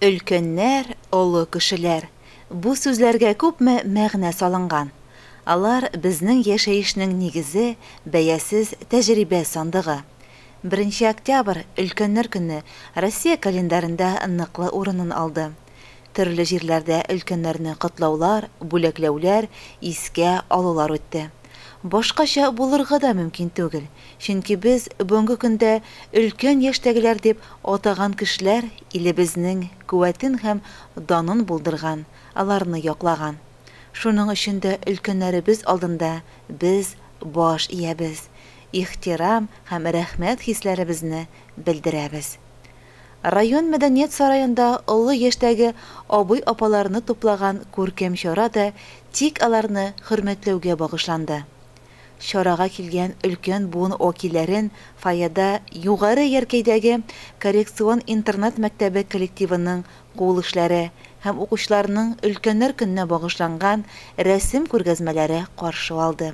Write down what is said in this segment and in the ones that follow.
Өлкәннәр, олы кешеләр, бу сүзләргә күпме мәгънә салынган. Алар, безнең яшәешнең нигезе, бәясез тәҗрибә сандыгы. Беренче октябрь, Өлкәннәр көне, Россия календаренда ныклы урынын алды. Төрле җирләрдә өлкәннәрне котлаулар, бүләкләүләр, искә алулар үтте. Башкача булырга да мөмкин түгел, чөнки без бүгенге көндә өлкән яшьтәгеләр дип атаган кешеләр илебезнең куәтен һәм данын булдырган, аларны яклаган. Шуның өчен дә өлкәннәребез алдында без баш иябез, ихтирам һәм рәхмәт хисләребезне белдерәбез. Район мәдәният сараенда олы яшьтәге абый-апаларны туплаган күркәм чара да тик аларны хөрмәтләүгә багышланды. Чарага килгән өлкән буын вәкилләрен фойеда Югары Яркәйдәге коррекцион интернат мәктәбе коллективының кул эшләре һәм укучыларның Өлкәннәр көненә багышланган рәсем күргәзмәләре каршы алды.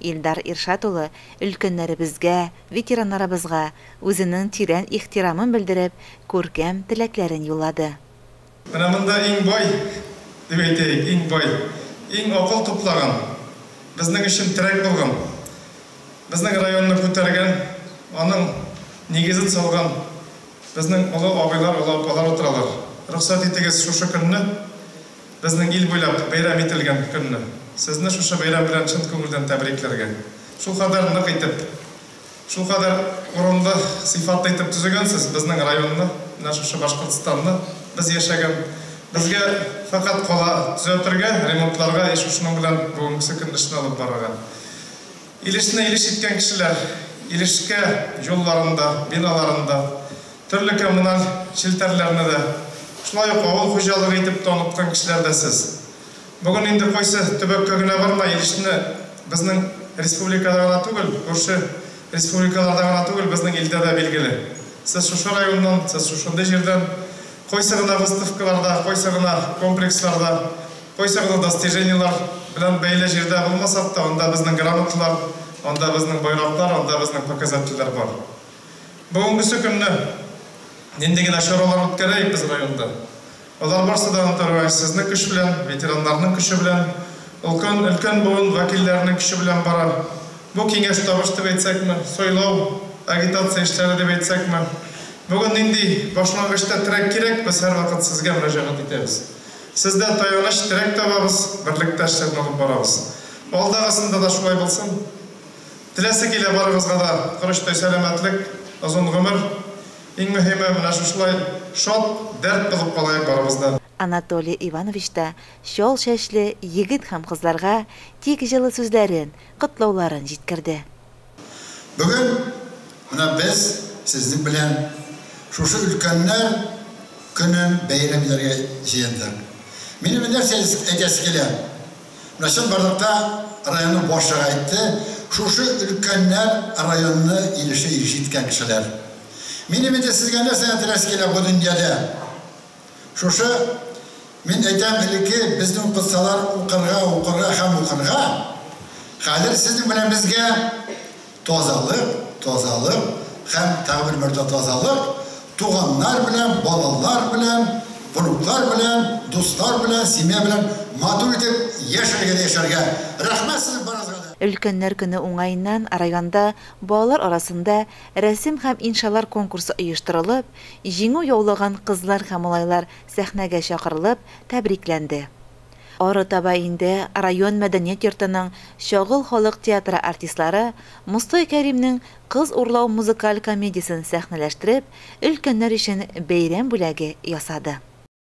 Илдар Иршат улы өлкәннәребезгә, ветераннарыбызга үзенең тирән ихтирамын белдереп, күркәм теләкләрен юллады. Менә монда иң бай, дип әйтәйек, иң бай, иң акыл туплаган, безнең өчен терәк булган, безнең районны күтәргән, аның нигезен салган безнең олы абыйлар, олы апалар утыралар. Рөхсәт итегез шушы көнне. Безнең ил буйлап бәйрәм ителгән көнне сезне шушы бәйрәм белән чын күңелдән тәбрикләргә. Шулкадәр нык итеп, шулкадәр урынлы, сыйфатлы итеп төзегәнсез безнең районны, менә шушы Башкортстанны, без яшәгән. Безгә фәкать кала төзәтергә, ремонтларга и шушының белән бүгенгесе көнне эшне алып барырга. Илешне илеш иткән кешеләр Илешкә юлларын да, биналарын да, төрле коммуналь челтәрләрне дә, шулай ук авыл хуҗалыгы итеп тә оныткан кешеләр дә сез. Бүген инде кайсы төбәккә генә барма, Илешне безнең республикада гына түгел, күрше республикаларда гына түгел, безнең илдә дә билгеле. Сез шушы районнан, сез шушындый җирдән, кайсы гына выставкаларда, кайсы гына комплексларда, Кайсы гына достижениелар белән бәйле җирдә булмасак та, анда безнең грамоталар, анда безнең байраклар, анда безнең показательләр бар. Бүгенгесе көнне нинди генә чаралар үткәрәйек без районда, алар барсы да Антарюаев сезнең көч белән, ветераннарның көче белән, олкан, өлкән буын вәкилләренең көче белән бара. Бу киңәш табыш дип әйтсәкме, сайлау, агитация эшләре дип әйтсәкме, бүген нинди башлангычта терәк кирәк, без һәрвакыт сезгә мөрәҗәгать итәбез. Сез дә таяныч терәк табабыз, берлектә эшләрне алып барабыз. Алдагысында да шулай булсын. Теләсе килә барыгызга да корычтай сәламәтлек, озын гомер. Иң мөһиме, менә шушылай шат, дәрт булып калаек барыбыз да. Анатолий Иванович та чал чәчле егет һәм кызларга тик җылы сүзләрен, котлауларын җиткерде. Бүген менә без сезнең белән шушы өлкәннәр көнен бәйрәм итәргә җыендык. Минем бер нәрсә әйтәсе килә. Менә чынбарлыкта районның башлыгы әйтте, шушы өлкәннәр районны ирешә ирешә иткән кешеләр. Минем инде сезгә нәрсә теләсе килә бу дөньяда? Шушы, мин әйтәм, элекке безнең укытсалар укырга, укырга һәм укырга, хәзер сезнең белән безгә тазалык, тазалык һәм тагы бер мәртәбә тазалык, туганнар белән, балалар белән, внуклар белән, дуслар белән, семья белән матур итеп яшәргә дә яшәргә. Рәхмәт сезнең барыгызга да! Өлкәннәр көне уңаеннан районда балалар арасында рәсем һәм иншалар конкурсы оештырылып, Җиңү яулаган кызлар һәм малайлар сәхнәгә чакырылып, тәбрикләнде. Арытаба инде район мәдәният йортының Чагыл халык театры артистлары Мостай Кәримнең Кыз урлау музыкаль комедиясен сәхнәләштереп, өлкәннәр өчен бәйрәм бүләге ясады.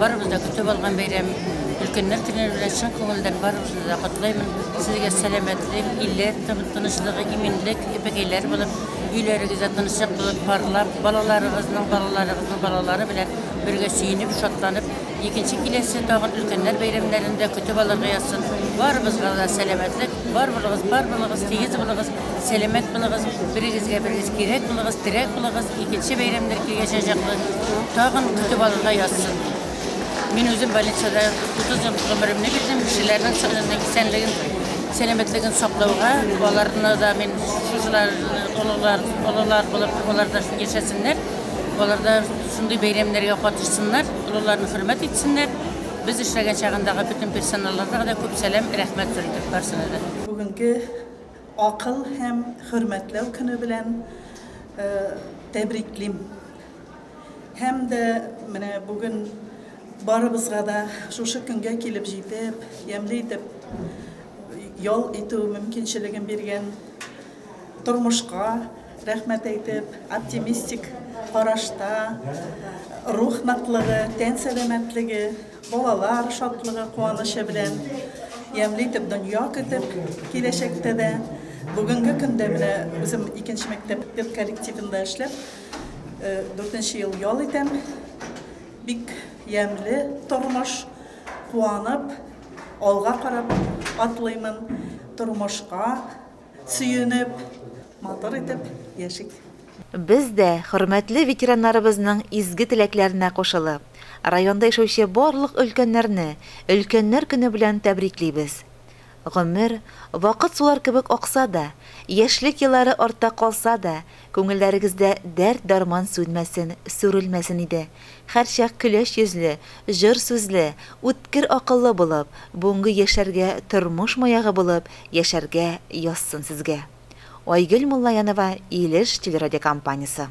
Барыбыз да көтеп алган бәйрәм. Өлкәннәр көне белән чын күңелдән барыбызны да котлыйм. Сезгә сәламәтлек, иле тынычлыгы, иминлек, эпекәйләр булып, өйләрегездә тынычлык булып, парлап, балаларыгызның, балаларыгызның балалары белән бергә сөенеп, шатланып, икенче киләсе тагын өлкәннәр бәйрәмнәрен дә көтеп алырга язсын. Барыбызга да сәламәтлек, бар булыгыз, бар булыгыз, тигез булыгыз. Сәламәт булыгыз, берегезгә берегез кирәк булыгыз, терәк булыгыз, икенче бәйрәмнәр килгәч җаклы, тагын көтеп алырга язсын. Мин үзем больницада 30 ел гомеремне бирдем, кешеләрнең сәламәтлеген, исәнлеген, сәламәтлеген саклауга, аларны да мин шушылар олылар, олылар булып, алар да яшәсеннәр, алар да шундый бәйрәмнәргә катышсыннар, олыларны хөрмәт итсеннәр. Без эшләгән чагындагы бөтен персоналларга да күп сәлам, рәхмәт белдереп барсына да. Бүгенге Акыл һәм хөрмәтләү көне белән тәбриклим. Һәм дә менә бүген барыбызга да шушы көнгә килеп җитеп, ямьле итеп ял итү мөмкинчелеген биргән тормышка рәхмәт әйтеп, оптимистик карашта, рух ныклыгы, тән сәламәтлеге, Балалар шатлыгы, куанычы белән ямьле итеп дөнья көтеп, киләчәктә дә, бүгенге көндә менә үзем икенче мәктәп педколлективында эшләп, э, дүртенче ел ял итәм. Бик ямьле тормыш, куанып, алга карап атлыймын тормышка. Сөенеп, матур итеп яшик! Без дә, хөрмәтле ветераннарыбызның изге теләкләренә кушылып, районда яшәүче барлык өлкәннәрне Өлкәннәр көне белән тәбриклибез. Гомер, вакыт сулар кебек акса да, яшьлек еллары артта калса да, Күңелләрегездә дәрт-дарман сүнмәсен, сүрелмәсен иде. Һәрчак көләч йөзле, җор сүзле, үткер акыллы булып, бүгенге яшьләргә тормыш маягы булып яшәргә язсын сезгә. Айгөл Муллаянова, Илеш телерадиокомпаниясе.